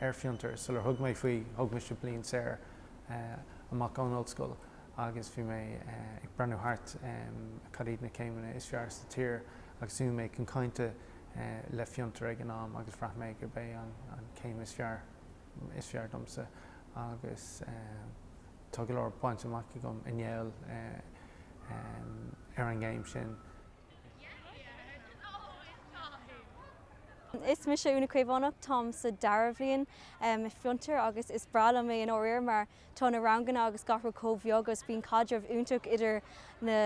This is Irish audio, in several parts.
ar Fiontar sular thug mé faoi, thug mise bliain saor amach ón ollscoil agus bhí mé ag breathnú thart cad iad na céimeanna is fearr sa tír agus bhí mé chun cainte le Fiontar ag an am agus bhraith mé gurb é an céim is fearr domsa agus tá go leor bainte amach agam i ngeall ar an gcéim sin. Is mise Úna Caomhánach, táim sa dara bhliain i Fiontar agus is breá liom é i ndáiríre mar tá na ranganna agus gach rud chomh bheag agus bíonn caidreamh iontach idir na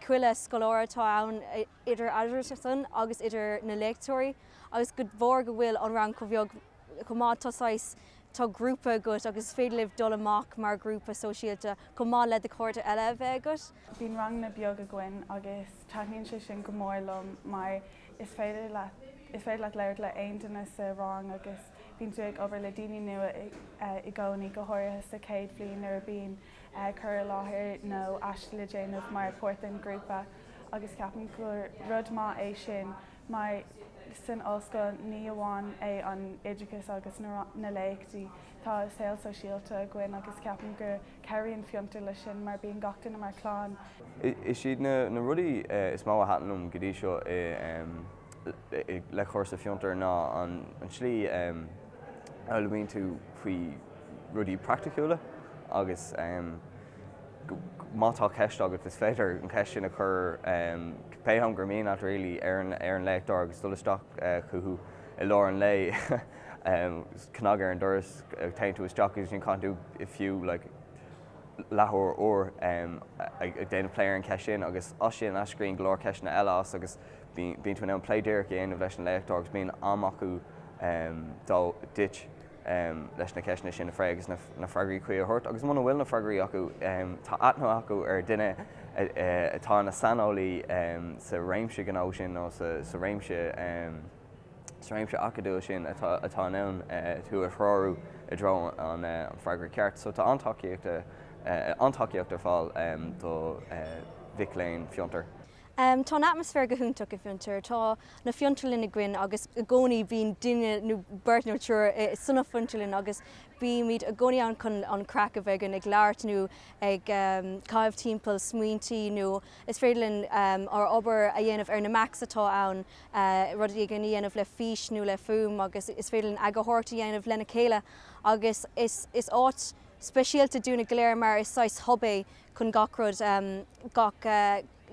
chuile scoláire atá ann idir eatarthusan agus idir na léachtóirí agus de bharr go bhfuil an rang chomh beag chomh maith, tá saghas, tá grúpa agat agus is féidir libh dul amach mar ghrúpa sóisialta chomh maith le do chairde eile a bheith agat. Bíonn ranganna beag againn agus taitníonn sé sin go mór liom mar is féidir leat, is féidir leat labhairt le aon duine sa rang agus bíonn tú ag obair le daoine nua i gcónaí, go háirithe sa chéad bhliain nuair a bíonn cur i láthair nó aiste le déanamh mar pháirt den ghrúpa agus ceapaim gur rud maith é sin. Mar san ollscoil ní amháin é an oideachas agus na léachtaí, tá saol sóisialta againn agus ceapaim go cabhraíonn Fiontar leis sin mar bíonn gach duine mar clann. Is iad na rudaí is mó a thaitin liom go dtí seo le cúrsa Fiontar ná an tslí a fhoghlaimíonn tú faoi rudaí praiticiúla agus. má tá ceist agat, is féidir an cheist sin a chur pé am gur mian leat, really, ar an léachtóir agus dul isteach chucu i lár an lae, cnag ar an doras, téann tú isteach agus ansin caitheann tú, fiú, like, leathuair, uair ag déanamh plé ar an ceist sin agus as sin eascraíonn go leor ceisteanna eile as agus bíonn tú in ann plé díreach a dhéanamh leis an léachtóir agus bíonn am acu duit. leis na ceisteanna sin a phlé agus na freagraí cuí a thabhairt, agus muna bhfuil na freagraí acu, tá aithne acu ar dhuine atá ina saineolaí sa réimse ghnó sin nó sa réimse acadúil sin atá in ann tú a threorú i dtreo an freagra ceart. So tá an-tacaíocht ar fáil do mhic léinn Fiontar. Tá an atmaisféar go hiontach i bhFiontar. Tá na fiontarlainn againn agus i gcónaí bíonn duine nó beirt nó triúr sna fiontarlainn agus bímid i gcónaí ann chun an craic a bheith againn ag labhairt nó ag caitheamh timpeall smaointí nó is féidir linn ár obair a dhéanamh ar na Macs atá ann, rudaí a dhéanamh le fís nó le fuaim agus is féidir linn eagarthóireacht a dhéanamh lena chéile agus is áit speisialta dúinne go léir mar is saghas hub é chun gach rud, gach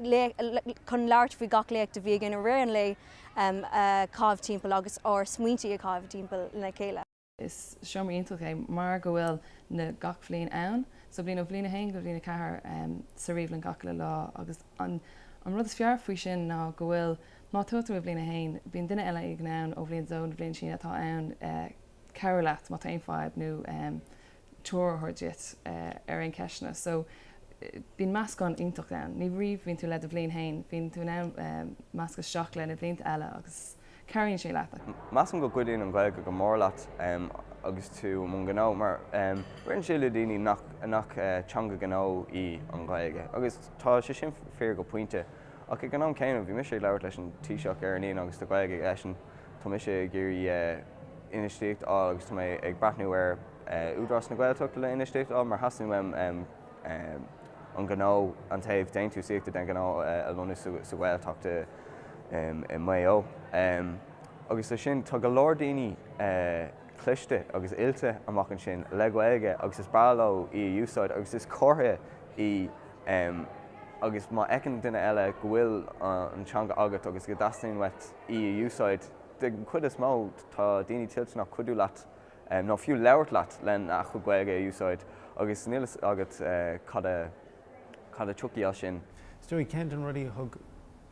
léacht, chun labhairt faoi gach léacht a bhí againn i rith an lae a chaitheamh timpeall agus ár smaointe a chaitheamh timpeall le chéile. Is seomra iontach é mar go bhfuil na gach bhliain ann, so bíonn ó bhliain a haon go bhliain a ceathair sa ríomhlann gach uile lá agus an an rud is fearr faoi sin ná go bhfuil má tá tú i bhliain a haon bíonn duine eile éigin ann ó bhliain a dó nó bliain níos sine atá in ann cabhrú leat má tá aon fadhb nó treoir a thabhairt duit ar aon cheisteanna. So, bíonn meascán iontach ann. Ní amháin bhíonn tú le do bhliain féin, bíonn tú in ann meascadh isteach le na blianta eile agus cabhraíonn sé leat. Measaim go gcuidíonn an Ghaeilge go mór leat agus tú i mbun gnó mar ritheann sé le daoine nach teanga gnó í an Ghaeilge agus tá sé sin fíor go pointe ach ag an am céanna bhí mise ag labhairt leis an Taoiseach ar an Aoine agus tá Gaeilge aigesean Tá mise ag iarraidh infheistíocht a fháil agus tá mé ag breathnú ar Údarás na Gaeltachta le infheistíocht a fháil mar theastaíonn uaim an gnó, an taobh déantúsaíochta den ghnó a lonnú sa Ghaeltacht i Maigh Eo. Agus leis sin, tá go leor daoine cliste agus oilte amuigh ansin le Gaeilge agus is breá leo í a úsáid agus is comhartha í agus má fheiceann duine eile go bhfuil an teanga agat agus go dteastaíonn uait í a úsáid. Den chuid is mó, tá daoine toilteanach cuidiú leat nó fiú labhairt leat lena gcuid Gaeilge a úsáid agus níl a fhios agat cad a tiocfaidh as sin. Is dóigh, ceann de na rudaí a thug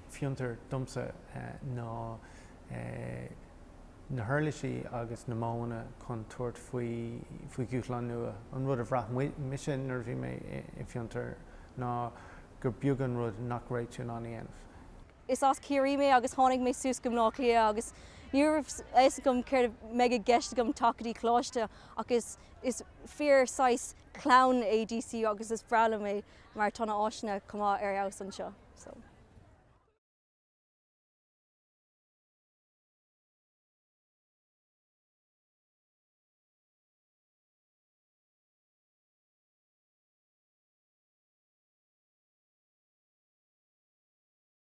Fiontar domsa ná na huirlisí agus na modhanna chun tabhairt faoi dhúshláin nua. An rud a bhraith mise nuair a bhí mé i bhFiontar ná gur beag an rud nach raibh tú in ann a dhéanamh. Is as Ciarraí mé agus tháinig mé suas go Baile Átha Cliath agus ní raibh a fhios agam céard a mbeidh i gceist agam ag teacht go dtí coláiste ach is is fíor saghas clann é DCU agus is breá liom é mar tá na áiseanna chomh maith ar fheabhas anseo.